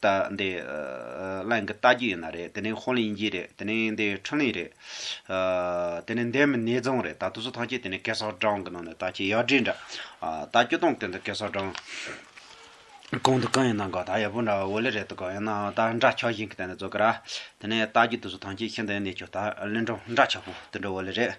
ད་འདི་གླེང་གི་ལྟ་རྒྱུ་ཡིན་ན་རེད་དེ་ནས་ཧོ་ལི་ཡིན་གྱི་རེད་དེ་ནས་འདི་ཁྲིན་ལི་རེད། དེ་ནས་འདི་མི་ནེ་ཙོང་རེད་ད་དུ་སུ་ཐང་ཅི་དེ་ནས་ཀེ་སོག་སྦྲང་གི་ནང་ནས་ད་ཅི་ཡག་དྲིས་འདྲ། ད་སྐྱོ་སྟོང་དེ་འདི་ཀེ་སོག་སྦྲང། གང་དུ་གང་ཡིན་ན་གང་ད་ཡག་པོ་འདྲ་ཧོ་ལི་རེད་དུ་གང་ཡིན་ན་ད་འདྲ་ཆགས་བཞིན་གི་དེ་ནས་ཙོ་གི་ར། དེ་ནས་ལྟ་རྒྱུ་དུ་སུ་ཐང་ཅི་ཤི་འདི་ནས་ཁྱོ་ད་གླིང་འགྲོ་འདྲ་ཆགས་པོ་དུ་འདྲ་ཧོ་ལི་རེད།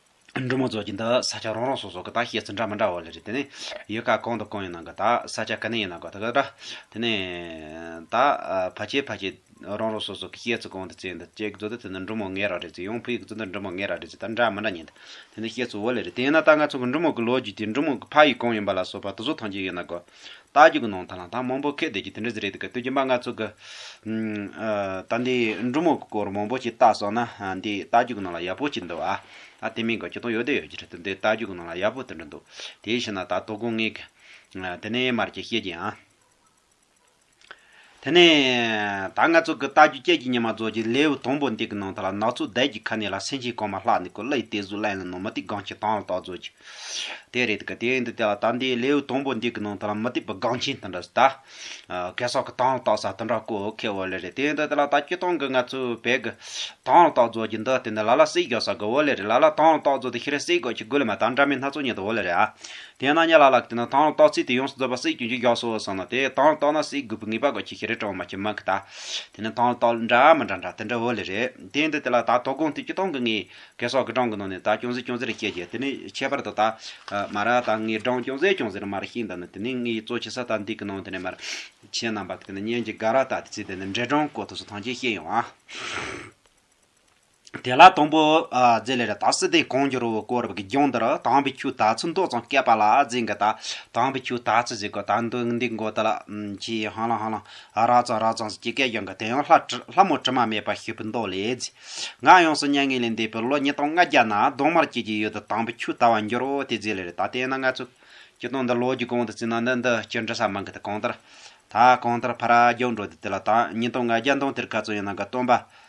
འབྲུ་མོ་རྫོགས་ཀྱི་འདི་ས་ཆ་རང་རང་སོ་སོ་གི་དག་བཤད་ཚུལ་འདྲ་མི་འདྲ་བ་ལས་རེད་དེ་ནས་ཡུལ་ག་གང་དང་གང་ཡིན་ནང་གི་དག་ས་ཆ་ག་ནས་ཡིན་ནང་གི་དག་གི་འདྲ་དེ་ནས་དག་ཕ་ཆེ་ཕ་ཆེ་རང་རང་སོ་སོ་གི་བཤད་ཚུལ་གང་དུ་བཙལ་འདི་ཅེས་གཙོ་དོན་དེ་ནི་འབྲུ་མོ་ངའི་ར་རེད་ཅེས་ཡང་བུ་ཡི་གཙོ་དོན་འབྲུ་མོ་ངའི་ར་རེད་ཅེས་དག་འདྲ་མི་འདྲ་ཉན་འདི་ནི་བཤད་ཚུལ་བོ་ལས་རེད་དེ་ཡིན་ན་དག་ང་ཚོ་གི་འབྲུ་མོ་གི་ལོ་རྒྱུས་དེ་འབྲུ་མོ་གི་ཕ་ཡུལ་གང་ཡིན་པ་ལ་སོགས་པ་དེ་ཚོ་ཐམས་ཅད་ཡིན་ནང་གི་རྟགས་ཀྱི་གུ་ནང་ཐང་ལ་ཐང་མང་པོ་ཁད་བསྡད་ཀྱི་དེ་འདྲ་ཟེར་རེད་འདུག་ག་བསྟོད་རྒྱུ་མ་ང་ཚོ་གི། ད་འདི་འབྲུག་མོ་གི་སྐོར་མང་པོ་ཞིག་བལྟ་སོང་ན་འདི་རྟགས་ཀྱི་གུ་ནང་ལ་ཡག་པོ་ཞིག་འདུག་ཨ། ཨ་དེ་མིན་གོ་ཆུ་དོང་ཡོད་དེ་ཡོད་ཀྱི་རེད་འདུག་འདི་རྟགས་ཀྱི་གུ་ནང་ལ་ཡག་པོ་དེ་འདྲ་འདུག་དེའི་ཕྱིར་ན་ད་དོ་དགོང་ངས། དེ་ནས་མར་ཀྱི་བཤད་ཀྱི་ཨ། དེ་ནས། ད་ང་ཚོ་གི་རྟ་རྒྱུག་སྐྱེལ་གྱི་ཉི་མ་རྫོགས་རྗེས་ལེའུ་དང་པོ་འདི་གི་ནང་དུ་ལ་ནག་ཆུ་དལ་གྱི་ཁ་ནས་ལ་སེང་ཆེན་གོང་མ་ལྷག་ནས་ཀུ་ལའི་རྟའི་གཟུགས་བརླན་ལ་ནང་མུ་ཏིག་སྒང་ཆེན་དང་ལ་དྭགས་རྫོགས་རྗེས། དེ་རེད་དཀའ་དེ་འདི་དེ་ལ་དྭགས་འདིའི་ལེའུ་དང་པོ་འདི་གི་ནང་དུ་ལ་མུ་ཏིག་པའི་སྒང་ཆེན་དང་འདྲ་ཟ། གེ་སར་གི་དང་ལ་དྭགས་ཟ་དང་འདྲ་ཀོ་ཁའི་འོ་ལེ་རེད་དེ་འདི་དེ་ལ་དྭགས་སྐྱིད་ཐང་གི་ང་ཚོའི་བལ་གི། དང་ལ་དྭགས་རྫོགས་རྗེས་འདི་དེ་འདི་ལ་ལ་སྲིད་རྒྱོ་ས་གི་འོ་ལེ་རེད་ལ་ལ་དང་ལ་དྭགས་རྫོགས་དེ་ཤི་རེ་སྲིད་རྒོད་ཁྱི་རྒུ་ལེ་མ་དང་འདྲ་མི་སྣ་ཚོགས་ཉིད་དུ་འོ་ལེ་རེད་ཨ། དེས་ན་གཉའ་ལ་ལ་གི་ནི་དང་རོ་ཏོག་ཚིག་དེ་ཡོངས་སུ་རྫོགས་པ་སྲིད་ཀྱི་མཇུག་རྒྱག་སོ་ཟེར་ན་དེས་དང་རོ་ཏོག་ན་སྲིད་དགོས་པའི་ངེས་པ་དགོས་ཁྱི་ཁྱི་རེ་སྤྲོ་བ་མ་ཁྱི་མ་ཁྱི་དག་དེ་ནི་དང་རོ་ཏོག་འདྲ་མི་འདྲ་འདྲ་དེ་འདྲ་བོ་ལས་རེད་དེ་འདི་དེ་ལ་དག་དོག་དགོངས་དུས་ཀྱི་སྟོང་གི་ངེས་གལ་སོགས་ཀྱི་སྦྲང་གི་ནང་ནས་དག་ཅུང་ཟད་ཅུང་ཟད་རེ་སྐྱེས་ཀྱི་དེ་ནི་ཁྱད་པར་དུ་དག་མ་ར་དག་ངེས་སྦྲང་ཅུང་ཟད་ཅུང་ཟད་རེ་མ་ར་ཤིང་དག་ནི་དེ་ནི་ངེས་གཙོ་ཆེ་ས་དག་འདི་གི་ནང་དེ་ནས་མར་ཁྱི་རྣམས་པ་གི་དེ་ནི་གཉན་གྱི་དགའ་ར་དག་དེ་ཚིག་དེ་ནི་འདྲེ་སྦྲང་གོ་ཐོས་སུ་ཐང་ཆེན་ཤེས་ཡོང་བ། དེ་ལ་དང་པོ། རྫས་ལས་ར་དྭགས་སི་ཏི་གང་འགྱུར་བའི་སྐོར་རབ་ཀྱི་ལྗོངས་འདིར་དྭངས་པའི་ཆུ་དག་ཚོན་མདོག་ཙམ་བསྐལ་པ་ལ་རྫས་འགའ་དག་དྭངས་པའི་ཆུ་དག་ཚོན་ཟེར་གོ་དག་འདི་འདི་འགོ་ད་ལ། ཅི་ཧང་ལང་ཧང་ལང། རག་ཙང་རག་ཙང་ཟེར་གྱི་སྐད་གཡང་གི་དེ་ཡང་ལྷ་མོ་དྲི་མ་མེད་པར་ཤི་བོའི་མདོག་ལས་རྫས་འགའ་ཡོངས་སུ་མྱ་ངན་ལས་འདས་པའི་ལོ་ཉིས་སྟོང་ལྔ་བརྒྱ་ན་གདོང་དམར་སྐྱེས་ཀྱི་ཡུལ་དུ་དྭངས་པའི་ཆུ་དག་བ་འགྱུར་བ་དེ་རྫས་ལས་ར་དྭགས་དེ་ན་ང་ཚོས་ཀྱི་དོན་འདི་ལོ་རྒྱུས་གང་དུ་བརྩིས་ན་འདི་འདི་ཅི་འདྲི་ས་མི་འགི་ད་གང་ལྟར། ད་གང་ལྟར་ཕ་ར་རྒྱག་འགྲོ་དེ་དེ་ལ་དྭངས་ཉིས་སྟོང་ལྔ་བརྒྱ་མདོང་དེར་ག་ཚོད་ཡོད་ནའང་གི་སྟོན་པ།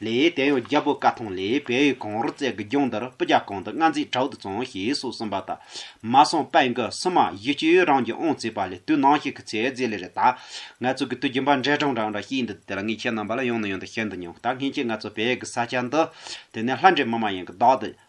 ལེ་ཡའི་དེ་ཡང་རྒྱལ་པོ་ཀ་ཐང་ལེའི་བལ་ཡུལ་གངས་རུ་རྩེ་གི་རྒྱང་འདིར་སྤུ་རྒྱ་གང་དུ་མངའ་མཛད་དྲག་ཏུ་བཙོང་ཞེས་སོགས་གསུངས་པ་དང། མ་སངས་པད་འགི་སི་མ་ཡུལ་སྤྱི་ཡུལ་རང་གི་ཨོང་རྩེ་བ་ལས་དུས་ནང་ཞིག་གི་ཚེ་རྫས་ལས་རེ་ད། ངལ་རྩོལ་གྱི་དུས་རྒྱུན་པ་འདྲེ་སྦྲང་རང་འདྲ་ཞིག་ཡིན་འདུག་དེ་ལ་ངས་ཁྱེད་རྣམ་པ་ལ་ཡང་ནས་ཡང་དུ་བཤད་འདུག་སྙམ་སྟབས་ངེད་ཀྱིས་ངལ་རྩོལ་བས་གི་ས་ཆ་འདི། དེ་ནས་ལྷ་འདྲེ་མི་མ་ཡིན་གྱི་བདག་དེ།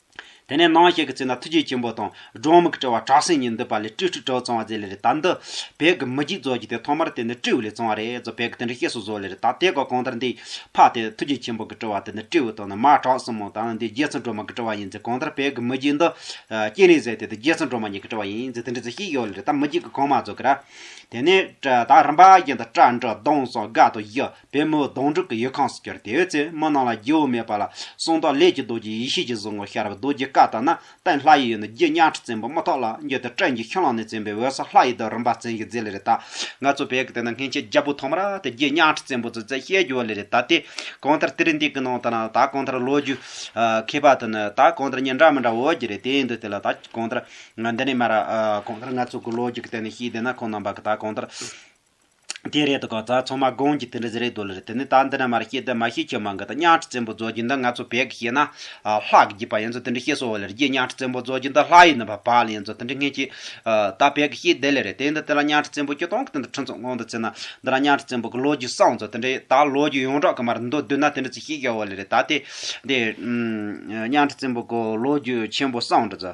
དེ་ནས་སྣང་ཞིག་གི་ཚེ་ན་ཐུགས་རྗེ་ཆེན་པོ་དང་སྒྲོན་མེ་གི་དྲི་བ་བྲག་སྲིན་གཉིས་འདུས་པ་ལས་སྤྲེའུ་ཁྲི་ཕྲག་བཙོང་བ་མཛད་ལེ་རེ་ད་འདི་བལ་གྱི་མི་རྒྱུད་རྫོགས་ཀྱི་དེ་ཐོག་མར་དེ་ནི་སྤྲེའུ་ལས་བཙོང་བ་རེད་ཛོ་བལ་གྱི་དེ་འདྲ་ཤེས་སུ་བཟོ་ལེ་རེ་ད་དེ་ག་གང་ལྟར་འདི་ཕག་དེ་ཐུགས་རྗེ་ཆེན་པོ་གི་དྲི་བ་དེ་ནི་སྤྲེའུ་དང་ནི་མ་བྲག་སྲིན་མོ་དང་ནི་འདི་རྗེ་བཙུན་སྒྲོལ་མ་གི་དྲི་བ་ཡིན་ཛེ་གང་ལྟར་བལ་གྱི་མི་རྒྱུད་འདི་སྐྱེས་ནས་ཟད་དེ་འདི་རྗེ་བཙུན་སྒྲོལ་མ་ཉིད་ཀྱི་དྲི་བ་ཡིན་ཛེ་དེ་འདྲ་ཛེ་ཤེས་ཡོད་ལེ་རེ་ད་མི་རྒྱུད་ཀྱི་གང་མ་བཟོ་གི་ར། དེ་ནས་ད་རིམ་པ་བཞིན་དུ་སྐྲ་འབྲུ་གདོང་སྲང་དགའ་དང་བཞི། པའི་མོའི་གདོང་དྲུག་གི་ཡུལ་ཁམས་སུ་གྱུར་ཏེ་འོད་ཟེར་མོ་རྣམས་ལ་སྒྱུ་བ་མེད་པ་ལ་གསུང་དང་ལས་ཀྱི་རྡོ་རྗེ་ཡེ་ཤེས་ཀྱི་གཟུགས་ངོར་ཤར་བས་རྡོ་རྗེ་བཀའ་དང་ནི་བསྟན་ལྷ་ཡི་ཡུལ་ནི་རྗེ་གཉའ་ཁྲི་བཙན་པོ་རྨ་ཐོག་ལ་འགྱུར་ཏེ་སྤྲིན་གྱི་ཁྱོན་ལམ་ནས་བཙུན་པའི་འོད་ཟེར་ལྷ་ཡི་དུག་རུམ་པ་ཟིན་གྱིས་མཛེས་ལེ་རེ་ད། ང་ཚོ་བོད་ཀྱི་དེ་ན་སྔན་ཆད་རྒྱལ་པོ་ཐོག་མར་དེ་རྗེ་གཉའ་ཁྲི་བཙན་པོ་ཚོས་བཙན་ཤེད་རྒྱུ་བ་ལེ་རེ་ད་སྟེ། གང་ལྟར་དེ་རིང་འདི་གི་ནང་དུ་ནི་ད་གང་ལྟར་ལོ་རྒྱུས་མཁས་པ་དང་ནི་ད་གང་ལྟར་གཉིས་འདྲ་མི་འདྲ་འོས་ཀྱི་རེད་དེ་ཡིན་དུས་དེ་ལ་ད་གང་ལྟར་འདི་ནས་མར་གང་ལྟར་ང་ཚོ་གི་ལོ་རྒྱུས་ཀྱི་སྟེང་ནས་ཤེས་བདེ་ན་ཁོང་རྣམ་པ་གི་ད་གང་ལྟར་དེ་རེད་དགག་རྩ་ཚང་མ་དགོངས་ཀྱི་དེ་འདྲ་ཟེར་རེད་དོ་ལེ་རེད་དེ་ནས་ད་འདི་ན་མར་ཤེས་དེ་མ་ཤེས་ཁྱོད་མ་འགའ་ད་གཉའ་ཁྲི་བཙན་པོ་རྫོགས་རྒྱུ་འདི་ང་ཚོ་བལ་གི་ཤེས་ན། ལྷག་གི་བརྒྱུད་པ་ཡན་ཚོ་དེ་འདྲ་ཤེས་སོ་ལེ་རེད་རྒྱའི་གཉའ་ཁྲི་བཙན་པོ་རྫོགས་རྒྱུ་འདི་ལྷག་ཡིན་ནི་བ་བག་ལེ་ཡན་ཚོ་དེ་འདྲ་ངས་ཤེས། ད་བལ་གི་ཤེས་བདེ་ལེ་རེད་དེ་འདི་དེ་ལ་གཉའ་ཁྲི་བཙན་པོ་སྐྱོ་སྟོང་གི་དེ་འདྲ་ཁྲི་ཚོ་སྔོན་དུ་བརྩི་ན་འདི་ལ་གཉའ་ཁྲི་བཙན་པོ་གི་ལོ་རྒྱུས་བསང་ཚོ་དེ་འདྲ་ཡོད་ད་ལོ་རྒྱུས་ཡོངས་གྲགས་ཀྱི་མར་མདོ་བསྡུས་ན་དེ་འདྲ་ཚོ་ཤེས་གལ་བོ་ལེ་རེད་ད་དེ་འདི། གཉའ་ཁྲི་བཙན་པོ་གི་ལོ་རྒྱུས་ཆེན་པོ་བསང་འདྲ་ཚོ།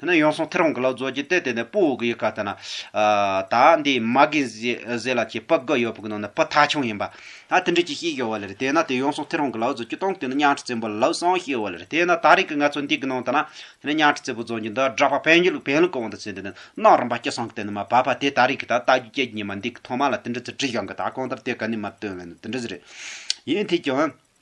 དེ་ནས་ཡོང་སོང་ཐེར་བོང་གི་ལག་རྫོགས་ཀྱིས་བལྟས་བལྟས་ནས་སྤུ་བོ་གི་ཡི་ག་ལྟ་ན། ད་འདི་མ་གིན་བཟས་ལ་ཁྱེད་སྤུ་དགག་ཡོད་པོ་གི་ནང་ནས་སྤུ་ཐག་ཆུང་ཡིན་པ། ད་དེ་འདྲས་ཀྱི་ཤེས་ཀྱི་བ་ལེར་བལྟས་ན་དེ་ཡོང་སོང་ཐེར་བོང་གི་ལག་རྫོགས་ཀྱིས་སྟོང་གི་ནི་གཉའ་ཁྲི་བཙན་པོ་ལ་ལབ་སོང་ཤེས་བ་ལེར་བལྟས་ན་ད་རིང་གི་ང་ཚོ་འདི་གི་ནང་ལྟ་ན། དེ་ནས་གཉའ་ཁྲི་བཙན་པོ་རྫོང་གྱི་འདི་བསྒྲགས་པ་བན་རྒྱུད་བན་ལུགས་ཀྱི་དབང་དུ་བྱས་འདི་ནི་གནའ་རིམ་པ་སྐྱེ་སངས་ཀྱི་དེ་ནི་མ་བབས་པ་དེ་ད་རིང་གི་ད་བལྟ་རྒྱུ་སྐྱེ་རྒྱུ་ཉི་མ་འདི་གི་ཐོག་མ་ལ་དེ་འདྲས་ཚུལ་བྲིས་ཤོང་གི་ད་གང་ལྟར་དེ་ག་ནི་མ་བཏོན་ལེ་ནི་དེ་འདྲས་རེད། ཡིན་དུས་ཀྱང།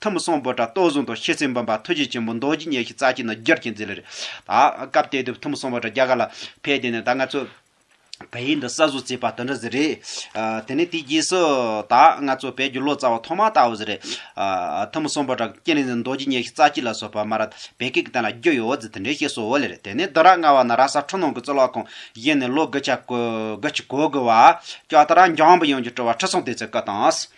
ཐུབ་མི་སོང་བོད་དྲ་གཏོར་བཟུང་དང་ཤེས་ཚད་འབུམ་པ་ཐུགས་རྗེ་ཆེན་པོ་མདོ་རྒྱུད་ཉེར་ཞི་རྩ་གཅིག་ན་རྒྱུ་རྐྱེན་འཛིན་ལེར། ད་སྐབས་དེ་དུས་ཐུབ་མི་སོང་བོད་དྲ་རྒྱ་གར་ལ་ཕེབས་དེ་ནས་ད་ང་ཚོ་བལ་ཡུལ་འདི་གསར་བཟོ་རྩིས་པ་དོན་འགྲུབ་ཟེར་རེད། དེ་ནས་དེའི་རྗེས་སུ། ད་ང་ཚོ་བལ་རྒྱུ་ལོ་ཙཱ་བ་ཐོག་མ་ལྟ་བུ་ཟེར་རེད། ཐུབ་མི་སོང་བོད་དྲ་རྐྱེན་རིག་འཛིན་མདོ་རྒྱུད་ཉེར་ཞི་རྩ་གཅིག་ལ་སོགས་པ་མ་ར་བལ་སྐད་ཀྱི་སྟེང་ལ་རྒྱུ་ཡོད་ཟེར་དེ་འདྲའི་ཤེས་སོ་ལེར་དེ་ནས་བདུན་ར་ལྔ་བ་ན་ར་ས་འཕྲུ་ནང་གི་གཙུག་ལག་ཁང་བཞེངས་ནས་ལོ་དགུ་ཆ་དགུ་གོ་དགུ་བ། སྐྱོ་ད་ར་འཇམ་པོ་ཡོངས་ཀྱི་སྤྲུལ་བ་ཁྲི་སྲོང་ལྡེ་བཙན་སྐུ་དང།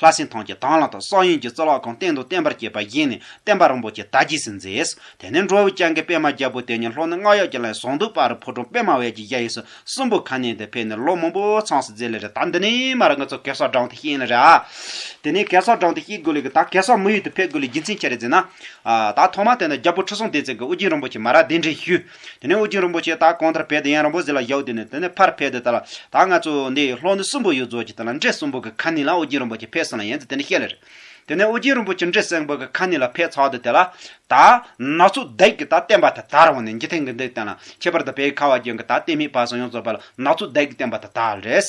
ལྷ་སྲིན་ཐང་གི་དང་བླངས་དང་སོགས་ཡོན་གྱི་གཙུག་ལག་ཁང་སྟེང་དུ་བརྟན་པར་བསྐྱེད་པ་བཞེས་ནས་བསྟན་པ་རིན་པོ་ཆེ་དར་རྒྱས་སུ་མཛད། དེ་ནས་འབྲོག་བུ་སྤྱང་ཀི་པད་མ་རྒྱལ་པོ་དེ་ཉིད་ལྷོ་ནུབ་རྔ་གཡག་གི་ལའི་ཟོང་དུ་སྤར་ཕོ་གྲོང་པད་མ་བལ་གྱི་གཡས་ཡིག་སོགས་གསུམ་པོ་ཁ་ནས་དེ་ཕེབས་ནས་ལོ་མང་པོ་ཚངས་སུ་མཛད་ལས་རེ་ད་འདི་ནས་མ་ར་ང་ཚོ་གེ་སར་འབྲང་དུ་གཤེགས་ན་རེ་ཨ། དེ་ནས་གེ་སར་འབྲང་དུ་གཤེགས་དགོས་ལས་ཀི་ད་གེ་སར་མི་ཡུལ་དུ་ཕེབས་དགོས་ལས་རྒྱུ་མཚན་ཆེ་རེ་མཛད་ན། ད་ཐོག་མ་དེ་ནས་རྒྱལ་པོ་ཁྲི་སྲོང་ལྡེ་བཙན་གྱི་དབུ་རྒྱན་རིན་པོ་ཆེ་མ་ར་གདན་འདྲེན་ཞུས། དེ་ནས་ཨུ་རྒྱན་རིན་པོ་ཆེས་ད་གོང་ཐར་ཕེབས་ཏེ་ཡན་རིན་པོ་ཟི་ལ་བཞག་དུས་ནས་དེ་ནས་ཕར་ཕེབས་ཏེ་ད་ལ་ད་ང་ཚོ་འདི་ལྷོ་འདི་གསུམ་པོ་ཡོད་རྫོགས་ཀྱི་ད་ལ་འདྲེ་གསུམ་པོ་གི་ཁ་ནི་ལ་ཨུ་རྒྱན་རིན་པོ་ཆེ་ཕེབས་སོང་ལ་ཡན་ཚོ་དེ་ནས་བཤད་ལེ་རེད། དེ་ནས་ཨུ་རྒྱན་རིན་པོ་ཆེ་འདྲེ་གསེང་པོ་གི་ཁ་ནི་ལ་ཕེབས་ཚར་དུས་དེ་ལ་ད་ནག་ཚོ་བདག་གིས་ད་བསྟན་པ་དེ་དར་བ་ནས་འཇིག་རྟེན་གྱི་འདི་བསྟན་ལ་ཁྱད་པར་དུ་བད་ཁ་བ་རྒྱན་གྱི་ད་བསྟན་མི་བར་སོང་ཡོང་ཚོ་བར་ལ་ནག་ཚོ་བདག་གིས་བསྟན་པ་དེ་དར་རེད།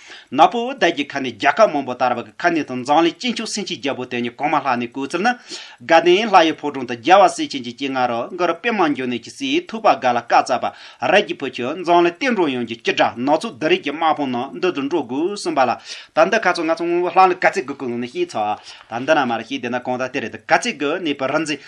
ནག་པོ་འོད་ཟླ་གྱི་ཁ་ནས་རྒྱ་ཁབ་མང་པོ་དར་བ་གི་ཁ་ནས་དང་མཛངས་ལས་སྐྱིད་མཆོག་སེང་ཆེན་རྒྱལ་པོ་དེ་ཉིད་གོང་མ་ལྷག་ནས་བསྐོས་ཚུལ་ནི། དགའ་ལྡན་ལྷ་ཡི་ཕོ་བྲང་དུ་རྒྱལ་བ་སྲས་ཆེན་གྱི་སྐྱེས་སྔ་རོལ་མགར་དཔེ་མང་འབྱུང་གནས་ཀྱི་སྲས་ཐུབ་པ་དགའ་ལ་བཀའ་སྩལ་པ། རལ་གྱི་བུ་ཁྱོད་མཛངས་ལས་བསྟན་འགྲོ་ཡོངས་ཀྱི་སྐྱིད་དྲག་ནག་ཚོགས་འདི་རིགས་ཀྱི་དམག་དཔུང་ནང་འདུ་དུ་འགྲོ་དགོས་གསུངས་པ་ལ། ད་འདི་ག་ཚོགས་ང་ཚོ་སྔོན་པོ་ལྷག་ལ་ག་ཚད་དགོས་ཀུན་ལུང་ནས་ཤེས་ཚོགས། ད་འདི་ན་མ་རེད་ཤེས་དེ་ན་གང་དག་དེ་རེད་དུ་ག་ཚད་དགོས་གནས་པའི་རིག་འཛིན་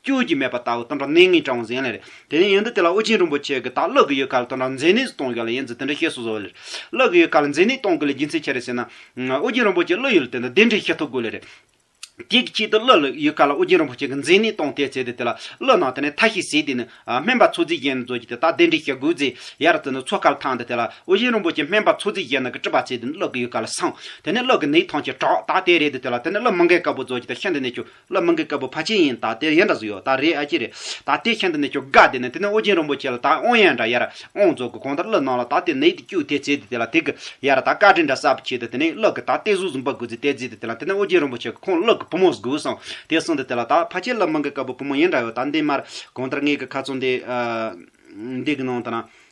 སྐྱོ་གྱི་མེད་པ་ལྟ་བུ་དོན་དག་གནས་ངེས་ཀྱང་གཟན་ལེན་རེད། དེ་ནས་ཡོན་ཏན་དེ་ལ་ཨོ་རྒྱན་རིན་པོ་ཆེས་གི་དག་བློ་གི་ཡུལ་ག་ལ་དོན་དག་མཛེ་ནད་གཏོང་གི་ལ་ཡིན་ཚུལ་དེ་འདྲ་ཤེས་སོ་ཟོ་བ་ལེ་རེད། བློ་གི་ཡུལ་ག་ལ་མཛེ་ནད་གཏོང་གི་ལ་རྒྱུ་མཚན་ཁྱེད་རེད་ཟེར་ན། ཨོ་རྒྱན་རིན་པོ་ཆེས་བློ་ཡུལ་དེ་འདྲ་དེ་འདྲས་ཤེས་ཐུབ་དགོས་ལེ་རེད། དེ་གི་ཆེད་དུ་བློ་ལ་ཡུལ་ག་ལ་ཨོ་རྒྱན་རིན་པོ་ཆེས་གི་མཛེ་ནད་གཏོང་ཐལ་ཟེར་ཏེ་དེ་ལ་བློ་ནང་དེ་ནས་ཐ་ཤི་ཟེར་དེ་ནི། སྨན་པ་ཚོ་རྫིས་གཞན་ནས་རྫོགས་ཀྱི་དེ་དག་དེ་འདྲས་ཤེས་དགོས་ཚེ། ཡར་རྩེ་ནས་ཚོ་གར་ཐང་དེ་དེ་ལ་ཨོ་རྒྱན་རིན་པོ་ཆེས་སྨན་པ་ཚོ་རྫིས་གཞན་ནས་གི་དཀྲི་བ་ཚེ་དེ་ནི་བློ་གི་ཡུལ་ག་ལ་སངས། དེ་ནས་བློ་གི་ནད་ཐང་ཆེ་དྲག་དག་དེ་རེད་དེ་དེ་ལ་དེ་ནི་བློ་མི་འགལ་དཀར་པོ་རྫོགས་ཀྱི་དེ་ཤན་དེ་ནས་ཆུ། བླ་མ་འགས་བཀའ་བབས་ཕ་ཆེན་ཡིན་ད་ལྟའི་ཡན་འདྲ་ཟིག་ཡོད་ད་རེད་ཨ་ཅེ་རེད་ད་ལྟའི་ཁྱེད་འདི་ནས་ཁྱོད་དགའ་བདེ་ནས་དེ་ནས་ཨོ་རྒྱན་རིན་པོ་ཆེ་ལ་ད་ཨོང་ཡན་འདྲ་ཡ་ར་ཨོང་རྫོགས་གི་གོང་ལྟར་བློས་གནང་ལ་ད་ལྟའི་ནས་དེ་སྐྱུག་དེ་བརྫིས་ཏེ་དེ་ལ་དེ་གི་ཡ་ར་ད་བཀའ་དྲིན་འདྲ་གསར་བུ་བྱས་ཏེ་དེ་ནས་བློས་གི་ད་ལྟའི་གཟུགས་བཟུང་པ་དགུ་བརྫིས་ཏེ་བརྫིས་ཏེ་དེ་ལ་དེ་ནས་ཨོ་རྒྱན་རིན་པོ་ཆེ་གི་ཁོང་བློས་གི་བུ་མོ་གཟུགས་བཟུང་དེ་གསུངས་ཏེ་དེ་ལ་ད་ཕ་ཆེན་བླ་མ་འགས་བཀའ་བབས་བུ་མོ་ཡན་འདྲ་ཡོད་ད་འདི་མར་གོང་ལྟར་ངེད་གི་ཁ་ཚོན་དེ་འདི་གི་ནང་དུ་ན་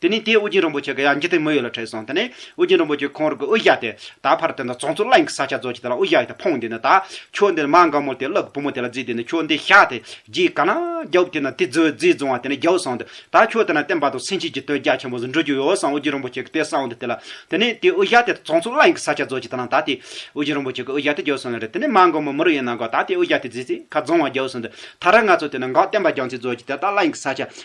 དེ་ནས་དེས་ཨུ་རྒྱན་རིན་པོ་ཆེ་གི་ཡང་འཇིག་རྟེན་མི་ཡོད་ལ་ཁྲེལ་སོང་དེ་ནས་ཨུ་རྒྱན་རིན་པོ་ཆེས་ཁོང་རང་གི་དབུ་བཞག་སྟེ། ད་ཕར་དེ་འདྲ་བཙོང་ཚུལ་གླིང་གི་ས་ཆ་རྫོགས་ཀྱི་དེ་ལ་དབུ་བཞག་ཡོད་དེ་འཕོངས་དེ་ནས་ད་ཁྱོད་འདི་ནས་མ་འགའ་མོ་དེ་བླ་གི་བུ་མོ་དེ་ལ་རྫིས་དེ་ནས་ཁྱོད་འདི་བཞག་དེ་རྗེས་ག་ན་རྒྱ་བུ་དེ་ན་དེ་རྫི་རྫིས་བཙོང་བ་དེ་ནས་རྒྱ་བུ་སོང་དེ་ད་ཁྱོད་དེ་ན་བསྟན་པ་དང་སེམས་ཤེས་ཀྱི་དོན་རྒྱ་ཆེན་པོ་ཟིག་འགྲུབ་རྒྱུ་ཡོད་བསམ་ཨུ་རྒྱན་རིན་པོ་ཆེ་གི་དེ་བསམ་དེ་དེ་ལ་དེ་ནས་དེས་དབུ་བཞག་དེ་བཙོང་ཚུལ་གླིང་གི་ས་ཆ་རྫོགས་ཀྱི་དེ་ལ་ད་དེས་ཨུ་རྒྱན་རིན་པོ་ཆེ་གི་དབུ་བཞག་དེ་རྒྱ་བུ་སོང་ལ་རེད་དེ་ནས་མ་འགའ་མོ་མི་རུ་ཡོད་ན་འགའ་ད་དེས་དབུ་བཞག་དེ་རྫིས་ཚེ་ཁ་བཙོང་བ་རྒྱ་བུ་སོང་དེ་ད་ར་ང་ཚོ་དེ་ན་འགའ་བསྟན་པ་རྒྱང་ཚིག་རྫོགས་ཀྱི་དེ་ད་གླིང་གི་ས་ཆ་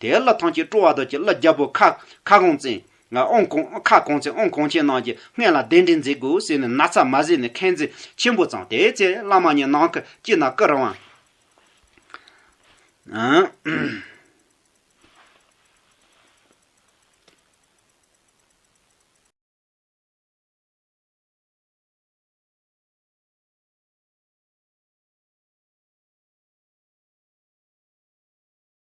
དེའི་བླ་ཐང་ཆེད་སྤྲོ་བ་དོལ་གྱི་བླ་རྒྱ་བོ་ཁ་སྐོང་བཙན། ཨོང་སྐོང། ཁ་སྐོང་བཙན་ཨོང་སྐོང་ཆེན་རྣམས་ཀྱི་སྔས་ལ་གདན་འདྲེན་མཛད་དགོས་ཟེར་ནས་ན་ཚ་མ་བཟས་ནས་མཁན་བརྩེ་ཆེན་པོ་བརྫངས་དེའི་ཚེ་བླ་མ་གཉིས་ནང་ཁུལ་གྱི་ན་ཀི་རང་བ།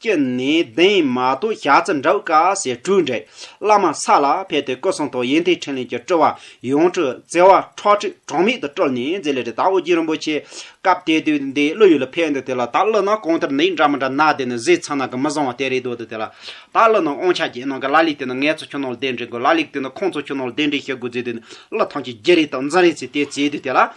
ཀྱི་ནས་གདན་མ་དོ་ཞག་རྩི་འདྲ་བུ་ཀ་སེ་སྤྲུལ་འདྲས་བླ་མ་ས་ལ་ཕེབས་ཏེ་སྐུ་གསུང་ཐུགས་ཡེ་མཐའི་ཕྲིན་ལས་ཀྱི་སྤྲུལ་བ་ཡོངས་གྲུབ་བརྩེ་བ་ཁྲག་ཁྲིག་གྲངས་མེད་དུ་སྤྲུལ་ནས་མཛད་ལས་རི་དྭགས་ཨོ་རྒྱན་རིན་པོ་ཆེ་སྐབས་དེ་དུས་འདི་ཀླུ་ཡུལ་ལ་ཕེབས་འདུག་དེ་ལ་ད་ཀླུ་ནང་གང་ལྟར་འདི་འདྲ་མི་འདྲ་ནག་དེ་ནི་གཟི་ཚང་ནང་གི་མི་བཟང་བ་དེ་རེད་འདོད་འདུག་དེ་ལ་ད་ཀླུ་ནང་ཨོང་ཆ་རྒྱལ་ནང་གི་ལ་ལས་དེ་ནི་ངེད་ཚོ་ཁྱོད་ནང་ལ་གདན་འདྲེན་དགོས་ལ་ལེགས་དེ་ནི་ཁོང་ཚོ་ཁྱོད་ནང་ལ་གདན་འདྲེན་བྱེད་དགོས་ཟེར་དུས་ནི་ཀླུ་ཐང་ཆེན་བརྒྱད་རེ་དང་འཛིན་རེ་ཚེ་དེ་བརྩེ་དུས་དེ་ལ།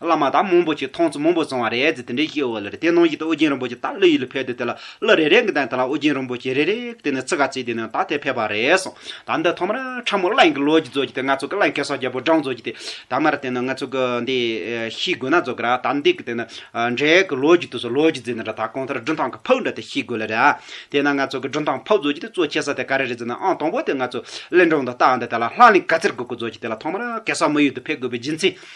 བླ་མ་དང་མང་པོ་ཞིག་མཐོང་ཚུལ་མང་པོ་སོང་བ་རེད་ཅེས་དེ་འདྲའི་ཤེས་བ་ལ་རེ་དེ་ནང་བཞིན་དུ་ཨོ་རྒྱན་རིན་པོ་ཆེ་ད་གླུ་ཡིག་ལ་ཕེབས་དུས་དེ་ལ་གླུ་རེ་རེ་གི་སྟེང་དེ་ལ་ཨོ་རྒྱན་རིན་པོ་ཆེ་རེ་རེ་གི་སྟེང་ནས་ཚིག་འགའ་བརྩིས་དེ་ནས་ད་དེ་ཕེབས་པ་རེད་གསུངས་ད་འདི་ཐོག་མར་ཁྲ་མོ་གླིང་གི་ལོ་རྒྱུས་རྫོགས་རྒྱུ་དེ་ང་ཚོ་གི་གླིང་གེ་སར་རྒྱལ་པོ་འབྲང་རྫོགས་རྒྱུ་དེ་ད་མར་དེ་ནི་ང་ཚོ་གི་འདི་ཤིས་དགོས་ན་རྫོགས་གི་ར་ད་འདི་གི་དེ་ནི་འབྲས་གི་ལོ་རྒྱུས་དུས་སུ་ལོ་རྒྱུས་རྫིག་ན་ར་ད་གང་ལྟར་སྒྲུང་ཐང་གི་ཕུག་འདྲ་དེ་ཤིས་དགོས་ལ་ར་དེ་ན་ང་ཚོ་གི་སྒྲུང་ཐང་ཕུག་རྫོགས་རྒྱུ་དེ་གཙོ་ཆེ་ས་དེ་ག་རེ་རེད་ཟེར་ན་ཨང་དང་པོ་དེ་ང་ཚོ་གླིང་སྒྲུང་དུ་བལྟའང་དེ་ལ་ལྷ་གླིང་ག་ཚེར་དགོས་དགོས་རྫོགས་རྒྱུ་དེ་ལ་ཐོག་མར་གེ་སར་མི་ཡུལ་དུ་ཕེབས་དགོས་པའི་རྒྱུ་མཚན་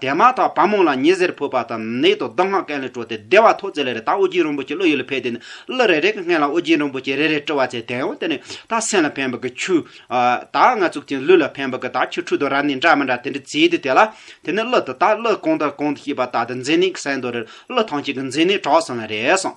དེ་མ་ཐག་བ་མོང་ལ་ཉི་ཟེར་བུད་པ་དང་ནེའི་དོ་བདག་སྔགས་གན་ལས་སྤྲོ་སྟེ་བདེ་བ་ཐོག་བརྩེགས་ལས་རེ་ད་ཨོ་རྒྱན་རིན་པོ་ཆེ་བློ་ཡུལ་ལ་ཕེབས་ཏེ་གླུ་རེ་རེ་གི་སྔན་ལ་ཨོ་རྒྱན་རིན་པོ་ཆེ་རེ་རེ་སྤྲོ་བ་ཚེ་དན་ཨོ་དེ་ནི་ད་སེམས་ལ་ཕན་པ་གི་ཆུ། ད་ང་ཚུགས་ཅིང་ལུས་ལ་ཕན་པ་གི་ད་ཆུ་འཁྲུ་དོ་ར་ནི་འདྲ་མི་འདྲ་དེ་འདྲ་བྱས་ཏེ་དེ་ལ་དེ་ནི་གླུ་དེ་ད་གླུ་གང་དང་གང་དུ་ཤེས་པ་ད་དེ་འཛིན་ནས་གསན་དོ་རེ་གླུ་ཐང་ཅིག་གི་འཛིན་ནས་གྲགས་སོང་ལ་རེ་གསུངས།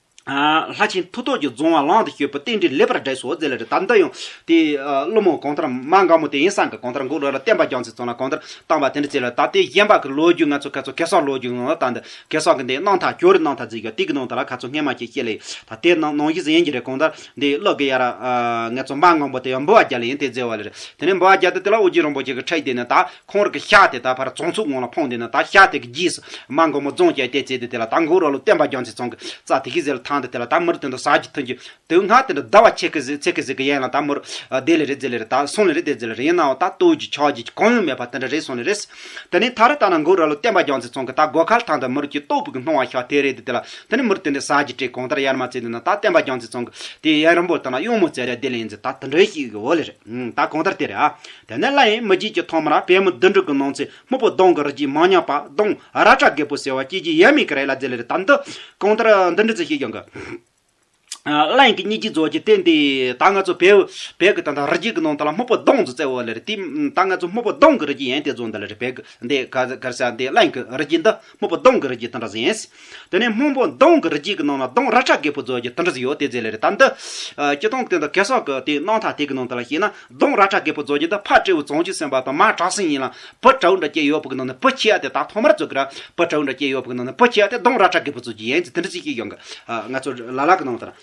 ལྷ་ཆེན་མཐུ་སྟོབས་ཀྱི་རྫོང་བ་ལང་དུ་བསྐྱོད་པོ་རྟེན་འབྲེལ་ལེགས་པར་བསྒྲེས་སོ་ཟེར་ལ་རི་དྭགས་འདི་ཡང་དེ་ཀླུ་མོ་གང་ལྟར་མ་འགའ་མོ་དེ་ཡིན་སངས་ཀྱི་གང་ལྟར་འགུགས་ལ་ལ་བསྟན་པ་རྒྱང་ཚིག་ཙམ་ལ་གང་ལྟར་བཏང་བ་དེ་འདྲ་བྱས་ལ་ད་ལྟའི་གཞན་པ་གི་ལོ་རྒྱུས་ང་ཚོ་ཁ་ཚོ་གེ་སར་ལོ་རྒྱུས་ངང་ལ་བཏང་འདི་གེ་སར་གི་འདི་གནང་ཐག་གྱོ་རི་གནང་ཐག་རྫིག་གྱོ་དེ་གི་ནང་དུ་ལ་ཁ་ཚོ་སྔས་མ་ཁྱེད་བཤད་ལེ་ད་དེ་གནང་གཞི་ཟིན་ཡིན་གྱི་རེད་གང་ལྟར་འདི་ཀླུ་གི་ཡ་ར་ངེ་ཚོ་མ་འགའ་མོ་དེ་ཡང་འབུལ་བ་རྒྱ་ལ་ཡིན་དེ་རྫི་བ་ལ་རེད་དེ་ནས་འབུལ་བ་རྒྱ་དེ་དེ་ལ་དབུ་རྒྱན་རིན་པོ་ཆེ་གི་ཁྲལ་བསྡད་ནས་ད་ཁོང་རང་གི་ཤག་དེ་ད་བར་བཙོང་ཚུགས་ངང་ལ་འཕངས་བསྡད་ན་ད་ཤག་དེ་གི་རྗེས་སུ་མ་འགོ་མོ་རྫོང་བཅས་བལྟས་བཙལ་དུས་དེ་ལ་ད་མགོ་རོ་ལོ་བསྟན་པ་རྒྱང་ཚིག་ཚང་གི་རྩ་དེ་གི་ཟེར་ལ་ཐང་དེ་དེ་ལ་ད་མུར་དེ་འདྲ་ཟག་གི་ཐུན་གྱི་དུག་སྔ་དེ་འདྲ་ཟླ་བ་ཕྱེད་ཀི་ཚེ་ཀི་ཟིག་གི་ཡན་ལ་ད་མུར་བསྡད་ལེ་རེ་བཙལ་ལེ་རེ་ད་སོང་ལེ་རེ་བསྡད་ཙེ་ལེ་རེ་ཡིན་ནའོ་ད་ལྟོས་ཀྱི་ཆགས་རྗེས་ཀྱི་གང་ཡང་མེད་པ་དེ་འདྲ་རེ་སོང་ལེ་རེས་དེ་ནས་ད་རེ་ད་ན་མགོ་རོ་ལོ་བསྟན་པ་རྒྱང་ཚིག་ཚང་གི་ད་སྒོ་ཁར་ཐང་དེ་མུར་གྱི་ལྟོགས་བུ་གི་སྣང་བ་ཤག་དེ་རེད་དེ་དེ་ལ་དེ་ནས་མུར་དེ་འདྲའི་ཟག་གི་དྲི་གང་ལྟར་ཡར་མ་བཙལ་འདོད་ན་ད་བསྟན་པ་རྒྱང་ཚིག་ཚང་གི་དེ་ཡན་རིང་པོ་ལྟ་ན་གཡུང་མོ་བཙལ་ལེ་བསྡད་ལེ་ཡིན་ཙེ་ད་དེ་འདྲའི་ཞིག་ཡོད་ལེ་རེད་ད་གང་ལྟར་དེ་རེད་ཨ་དེ་ནས་བླ་ཡེངས་མི་བརྗེད་ཀྱི་ཐོག་མར་པད་མོ་བདུན་དྲུག་གི་ནང་ཚེ་སྨུག་པོ་གདོང་གི་རི་སྐྱེས་མང་ཉག་པ་གདོང་ར་བཀྲ་རྒད་པོ་ཟེར་བ་སྐྱེས་རྗེས་ཡབ་མེས་ཀྱི་རས་ལ་རྫས་ལེ་རེ་བཏབ་འདུག་གང་ལྟར་འདི་འདྲི་ཚུལ་ཤེས་ཀྱང་དགའ། བླ་ཡེངས་ཀྱི་སྙིང་རྗེ་རྫོགས་ཀྱི་རྟེན་དེ་ད་ང་ཚོ་བལ་བལ་གྱི་ད་ལྟ་རི་སྐྱེས་ཀྱི་ནང་དུ་ལ་སྨུག་པོ་གདོང་རྫི་རྩེ་འོག་ལེ་རེ་བཏིབ་ད་ང་ཚོ་སྨུག་པོ་གདོང་གི་རི་སྐྱེས་ཡན་དེ་རྫོགས་འདི་ལེ་རི་བལ་གྱི་འདི་ག་གར་ས་འདི་བླ་ཡེངས་ཀྱི་རི་སྐྱེས་འདི། སྨུག་པོ་གདོང་གི་རི་རྒྱུད་དང་འདྲ་ཟིན། དེ་ནས་སྨུག་པོ་གདོང་གི་རི་རྒྱུད་ཀྱི་ནང་ན་གདོང་ར་ཁྲ་རྒད་པོ་རྫོགས་ཀྱི་སྟོན་གྲི་ཟིག་ཡོད་དེ་ཟེར་ལེ་རེད་ད་འདི། སྐྱིད་སྡོང་དེ་འདི་གེ་སོག་གི་དེའི་སྣང་མཐའ་དེ་གི་ནང་དུ་ལ་ཞིག་ན་གདོང་ར་ཁྲ་རྒད་པོ་རྫོགས་ཀྱི་འདི་ཕ་སྤྲེའུ་བཙོང་ཆུ་ཟིན་པ་དང་མ་བྲག་ཟིན་ཡིན་ལ་བུ་བྲེའུ་འདྲ་སྐྱེས་ཡོད་བུ་གི་ནང་ནས་བུ་ཁྱི་ཡ་དེ་ད་ཐོག་མར་རྫོགས་གི་ར་བུ་བྲེའུ་འདྲ་སྐྱེས་ཡོད་བུ་གི་ནང་ནས་བུ་ཁྱི་ཡ་དེ་གདོང་ར་ཁྲ་རྒད་པོ་རྫོགས་ཀྱི་ཡན་གྱི་དེ་འདྲ་ཅིག་སྐྱེས་ཡོང་གི་ང་ཚོ་ལ་ལ་གི་ནང་དུ་ལ།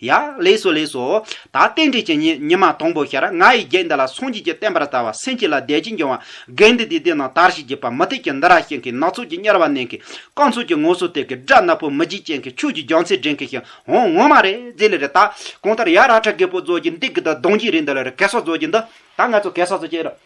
ཡ། ལེགས་སོ་ལེགས་སོ། ད་རྟེན་འབྲེལ་གྱི་ཉིན་ཉི་མ་དང་པོ་ཤར་ང་ཡི་བརྒྱད་འདི་ལ་སངས་རྒྱས་ཀྱི་བསྟན་པར་བལྟ་བ་སེམས་བསྐྱེད་ལ་བདེ་སྐྱིད་འབྱུང་བ་དགེ་འདི་དེ་དེ་ན་དར་ཞིག་གྱིས་པ་མུ་ཏིག་གི་འདི་ར་ཤིང་གིས་ནག་ཚོགས་ཀྱི་གཉེར་བ་མནན་གིས་རྐང་ཚུགས་ཀྱི་ངོ་སོ་ཐེབས་གིས་སྦྲ་ནག་པོ་མི་འཇིགས་ཅན་གྱིས་ཁྱོད་ཀྱི་རྒྱང་ཚད་འགྲེང་གིས་ཤིང་ཧོང་ངོ་མ་རེད་རྫི་ལི་རེད་ད་གང་ལྟར་ཡ་ར་ཁྲ་རྒད་པོ་རྫོགས་ཀྱི་འདི་གི་ད་གདོང་འཇིགས་རེད་འདི་ལ་རེད་གེ་སར་རྫོགས་ཀྱི་འདི་ད་ང་ཚོ་གེ་སར་ཚོ་ཁྱེད་ར།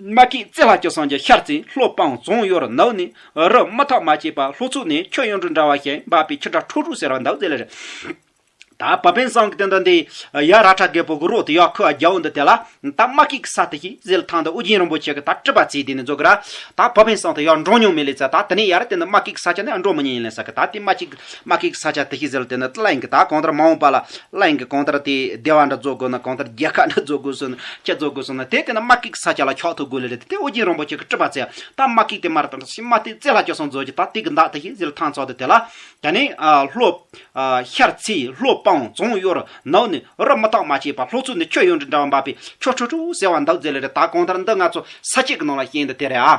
མ་ཀིས་རྩེ་ལྷ་ཁྱོད་སངས་རྒྱས་ཤར་རྩེའི་ལྷོ་སྤང་རྫོང་གཡོ་རུ་ནགས་ནས་རུ་མི་ཐོག་མ་ཆད་པ་ལྷོ་ཚུགས་ནས་ཁྱོད་གཡོན་དྲུག་འདྲ་བ་ཞིག་འབབ་པའི་ཁྱི་ཁྲ་ཁྲོ་ཁྲོ་ཟེར་བ་འདུག་ཟེར་ལ་ད་བབ་པན་སངས་ཀི་སྟན་དང་དེའི་ཡ་ར་ཁྲ་རྒད་པོ་གི་རོགས་དེ་ཡག་ཁུ་ཨ་རྒྱའུ་འདི་དེ་ལ་ད་མ་ཀིས་གི་ས་དེ་ཞིག་ཟེར་ཐང་འདི་ཨུ་རྒྱན་རིན་པོ་ཆེ་གི་ད་སྤྲི་པ་ཚེ་དེ་ནས་འཛོ་གི་ར་ད་བབ་པན་སངས་དེ་ཡག་འགྲོ་མྱོང་མེད་ལས་ཚ་ད་དེ་ནས་ཡ་ར་དེ་འདི་མ་ཀིས་གི་ས་ཆ་ནས་ཨ་འགྲོ་མི་ཉན་ཡིན་ལས་ས་གི་ད་དེ་མ་ཀིས་མ་ཀིག་ས་ཆ་དེ་ཤི་ཟེར་དེ་ནི་བླ་ཡང་གི་དག་གང་ལྟར་མ་འོངས་པ་ལ་བླ་ཡང་གི་གང་ལྟར་དེ་སྡེ་བ་འདྲ་རྫོགས་དགོས་ན་གང་ལྟར་རྒྱལ་ཁ་འདྲ་རྫོགས་དགོས་སོ་ན་ཁྱེད་རྫོགས་དགོས་སོ་ན་དེ་དེ་ནི་མ་ཀིག་ས་ཆ་ལ་ཁྱོག་ཐུག་དགོས་ལེ་རེད་དེ་ཨོ་རྒྱན་རིན་པོ་ཆེ་གི་སྤྲུལ་པ་ཚེ་དང་མ་ཀིག་དེ་མར་དང་ཤི་མ་དེ་རྩེ་ལྷ་ཅོག་སོང་རྫོགས་ཀྱི་དག་དེ་གི་འདག་དེ་ཤི་ཟེར་ཐང་ཚོགས་དེ་དེ་ལ་དེ་ནི་ལྷོ། ཤར་ཚེས་ལྷོ་སྤང་རྫོང་གཡོར་ནག་ནི་རབ་མི་རྟག་མ་བྱས་པ་ལྷོ་ཚུར་ནི་ཁྱོད་ཡོང་དྲི་འདྲ་བ་འབབ་པའི་ཁྱོ་ཁྲོ་ཁྲོ་ཟེར་བ་འདག་རྫས་ལེ་རེ་དག་གང་ལྟར་འདི་ང་ཚོ་ས་སྐྱེས་གི་ནང་ལ་ཤེས་འདི་དེ་རེད་ཨ།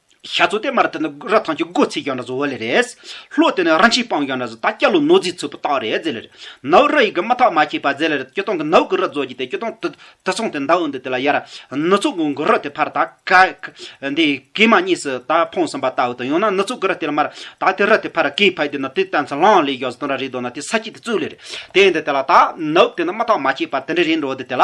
ཤ་ཚོ་དེ་མར་དེ་ནི་ར་ཐང་གི་སྒོ་ཚིག་ཀྱང་ན་ཟོ་བ་ལེ་རེད། ལྷོ་དེ་ནི་ར་མཆིས་སྤང་ཀྱང་ན་ཟོ་ད་སྐྱ་ལོ་ནོ་རྫིས་ཚོས་པོ་ཏག་རེད་ཟེ་ལེ་རེ། ནའུ་ར་ཡི་གི་མ་ཐག་མ་ཁྱེད་པ་ཟེ་ལེ་རེ་སྐྱོ་སྟོང་གི་ནའུ་གི་ར་རྫོ་གྱི་དེ་སྐྱོ་སྟོང་དུ་དུ་སོང་དེ་མདའ་འུ་འདི་དེ་ལ་ཡ་ར། ནུ་ཚོ་གུ་གུ་ར་དེ་ཕར་ད་ཀ་ཀ་འདི་གི་མ་གཉིས་སུ་ད་འཕོང་སོང་པ་ད་འུ་དང་ཡང་ན་ནུ་ཚོ་གུ་ར་དེ་ལ་མར་ད་དེ་ར་དེ་ཕར་གི་ཕ་དེ་ནི་དེ་ད་ཚ་ལང་ལེ་གཡོག་ཟོ་དོང་ར་རི་དོ་ན་དེ་ས་ཁྱི་དེ་ཙུ་ལེ་རེ། དེ་འདི་དེ་ལ་ད་ནའུ་དེ་ནི་མ་ཐག་མ་ཁྱེད་པ་དེ་འདྲ་རེད་འགྲོ་འདི་དེ་ལ།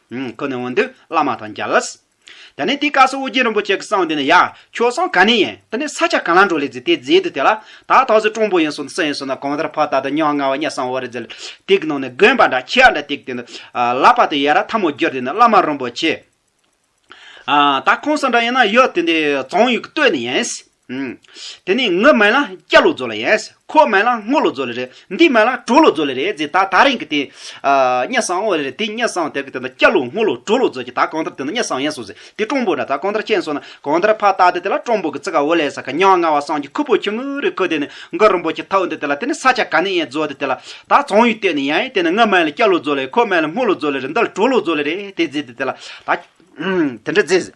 ཁོ་ནི་འོ་འདུག་བླ་མ་དང་རྒྱ་ལཱས། ད་ནི་དེ་ཀ་སོགས་ཨོ་རྒྱན་རིན་པོ་ཆེ་གི་གསང་འདི་ནི་ཡ། ཁྱོད་གསང་ག་ནས་ཡིན་ད་ནི་ས་ཆ་ག་ལ་འགྲོ་ལེ་ཟེར་དེ་རྫས་དུ་དེ་ལ། ད་ད་གཟོད་གྲོང་པོ་ཡིན་སོང་སུ་ཡིན་སོང་ད་གང་ལྟར་ཕ་ད་ད་ཉག་ང་བ་གཉའ་གསང་བོ་རེ་ཟེར། དེ་གི་ནང་ནས་དགོན་པ་འདྲ་ཁྱི་ཡ་འདྲ་དེ་གི་སྟེང་དུ། ལག་པ་དེ་ཡ་ར་ཐ་མོ་བསྒྱུར་དེ་ནི་བླ་མ་རིན་པོ་ཆེ། ད་ཁོང་ས་འདྲ་ཡིན་ན་ཡོད་དེ་འདི་བཙོང་ཡུལ་གི་སྟོད་ནས་ཡིན། དེ་ནས་ངུ་མལ་ལ་སྐྱ་ལོ་རྫོ་ལ་ཡས། ཁོ་མལ་ལ་སྔོ་ལོ་རྫོ་ལ་རེ། འདི་མལ་ལ་གྲོ་ལོ་རྫོ་ལ་རེ་ཟེར་ད་ད་རིང་གི་དེ། སྙ་སང་ཨོ་རེ་དེ་སྙ་སང་དེར་གི་དེ་ད་སྐྱ་ལོ་སྔོ་ལོ་གྲོ་ལོ་རྫོ་གི་ད་གང་ལྟར་དེ་ན་སྙ་སང་ཡས་སོ་ཟེར་དེ་ཀྲོང་པོ་འདྲ་ད་གང་ལྟར་ཅན་སོ་ན་གང་ལྟར་ཕ་ད་དེ་དེ་ལ་ཀྲོང་པོ་གི་ཙི་ག་ཨོ་ལས་ས་ག་ཉང་ང་བ་སང་གི་ཁུ་པོ་ཁྱུང་ངུ་རེ་ཁུ་དེ་ནས་མགོ་རིང་པོ་ཁྱི་ཐའུ་འདི་དེ་ལ་དེ་ནས་ས་ཆ་ག་ནས་ཡས་རྫོ་དེ་དེ་ལ་ད་ཙང་ཡུལ་གཏེར་ནས་ཡ་ཡས་དེ་ནས་ངུ་མལ་ལ་སྐྱ་ལོ་རྫོ་ལ་ཡས་ཁོ་མལ་ལ་སྔོ་ལོ་རྫོ་ལ་རེ་འདི་ལ་གྲོ་ལོ་རྫོ་ལ་རེ་དེ་ཟེར་དེ་དེ་ལ་ད། དེ་འདྲ་ཟེར།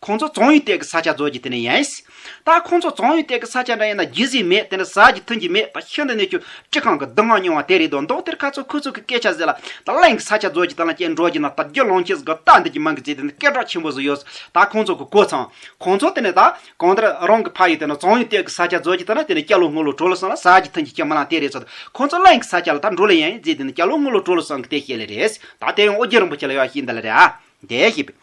ཁོང་ཚོ་ཙོང་ཡུལ་སྟེགས་ཀྱི་ས་ཆ་རྫོགས་ཀྱི་དེ་ནས་ཡིན། ད་ཁོང་ཚོ་ཙོང་ཡུལ་སྟེགས་ཀྱི་ས་ཆ་འདྲ་ཡིན་ན་རྒྱུ་ཟིག་མེད་དེ་ནས་ཟ་རྒྱུ་འཐུང་རྒྱུ་མེད་ད་ཤིན་ཏུ་གནས་ཆུང་སྤྱི་ཁང་གི་བསྡུ་སྔགས་ཉུང་བ་དེ་རེད་དོ་མདོག་དེར་ཁ་ཚུགས་ཁུ་ཚུགས་ཀྱི་སྐད་ཆ་ཟེར་ལ་ད་གླིང་གི་ས་ཆ་རྫོགས་ཀྱི་དེ་ལ་སྐྱེལ་འགྲོ་རྒྱུ་ན་ད་རྒྱུ་ལོང་ཁྱི་ཟིག་གི་རྟ་འདི་ཀྱི་མིང་གི་རྗེས་དེ་ནས་སྐད་གྲགས་ཆེན་པོ་ཟིག་ཡོད་ད་ཁོང་ཚོ་གི་གོ་ཚང། ཁོང་ཚོ་དེ་ནས་ད་གང་ལྟར་རང་གི་ཕ་ཡུལ་དེ་ནས་ཙོང་ཡུལ་སྟེགས་ཀྱི་ས་ཆ་རྫོགས་ཀྱི་དེ་ན་དེ་ནས་སྐྱ་ལོ་སྔོ་ལོ་གྲོ་ལོ་སང་ལ་ཟ་རྒྱུ་འཐུང་རྒྱུ་ཁྱི་མོ་ལང་དེ་རེད་ཟེར་ཁོང་ཚོ་གླིང་གི་ས་ཆ་ལ་ད་འགྲོ་ལ་ཡིན་རྗེས་དེ་ནས་སྐྱ་ལོ་སྔོ་ལོ་གྲོ་ལོ་སང་གི་དེ་ཤེས་ལེ་རེད་ད་དེ་ཡང་ཨོ་རྒྱན་རིན་པོ་ཆེ་ལ་ཡོད་ཤེས་འདི་ལ་རེད་ཨ། དེ་ཤེས་པས།